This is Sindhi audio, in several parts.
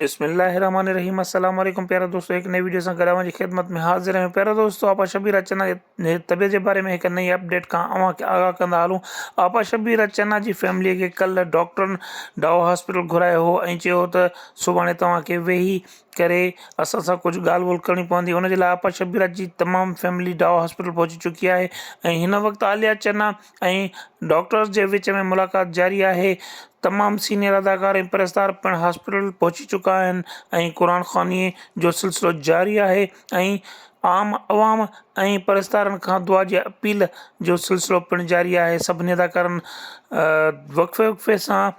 بسم الله الرحمٰن الرحيم السلام عليڪم پيارا دوستو هڪ نئين وڊيو سان گڏ اوهان جي خدمت ۾ حاضر آهيون پيارا دوستو آپا شبير راج چنا جي طبيعت جي باري ۾ هڪ نئين اپڊيٽ کان اوهان کي آگاهه ڪندا هلون آپا شبير راج چنا جي فيملي کي ڪل ڊاڪٽرن ڊاو هاسپيٽل گهرايو هو ۽ چيو هو ته سڀاڻي توهان کي ويهي ڪري اسان سان ڪجهه ڳالهه ٻولهه ڪرڻي پوندي ان جي لاء آپا شبير راج جي تمام فيملي ڊاو هاسپيٽل پهچي چڪي آهي ۽ هن وقت عاليا چنا ۽ ڊاڪٽرز جي وچ ۾ ملاقات جاري آهي تمام سينئر اداڪار ۽ پرستار پڻ هاسپيٽل پهچي چڪا آهن ۽ قرآن خواني جو سلسلو جاري آهي ۽ عام عوام ۽ پرستارن کان دعا جي اپيل جو سلسلو پڻ جاري آهي سڀني اداڪارن وقفي وقفي سان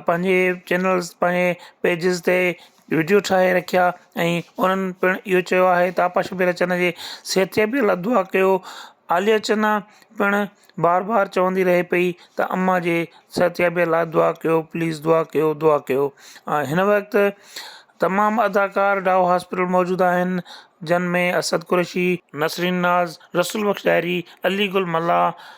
پنهنجي چينلز پنهنجي پيجز تي وڊيو ٺاهي رکيا ۽ انهن پڻ اهو چيو آهي ته آپا شبير اچن جي صحت جي به الله دعا ڪيو عاليه چنا پڻ بار بار چوندي رهي پئي ته اما جي صحت جي به الله دعا ڪيو پليز دعا ڪيو دعا ڪيو هن وقت تمام اداڪار ڊائو هاسپيٽل موجود آهن جن ۾ اسد قريشي نسرين ناز رسول بخش ڏاهري علي گل ملاح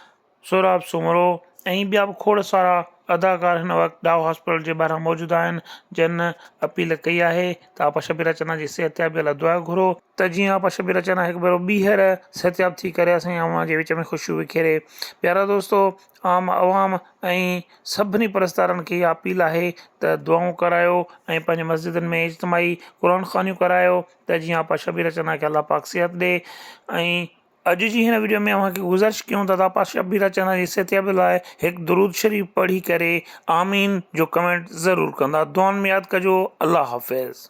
سهراب سومرو ۽ ٻيا به کوڙ سارا اداڪار هن وقت ڊاء هاسپيٽل جي ٻاهران موجود آهن جن اپيل ڪئي آهي ته آپا شبير اچنا جي صحتيابيء لاء دعا گهرو ته جيئن آپا شبير اچنا هڪ ڀيرو ٻيهر صحتياب ٿي ڪري اسان جي عوام جي وچ ۾ خوشيون وکيري پيارا دوستو عام عوام ۽ سڀني پرستارن کي اها اپيل آهي ته دعائون ڪرايو ۽ پنهنجي مسجدن ۾ اجتماعي قرآن خوانيون ڪرايو ته جيئن آپا شبير اچنا کي الله پاڪ صحت ڏي ۽ اڄ جي هن وڊيو ۾ اوهان کي گذارش ڪيون ٿا ته آپا شبيره چنا جي صحتيابي لاء هڪ درود شريف پڙهي ڪري آمين جو ڪمينٽ ضرور ڪندا دعائن ۾ ياد ڪجو الله حافظ.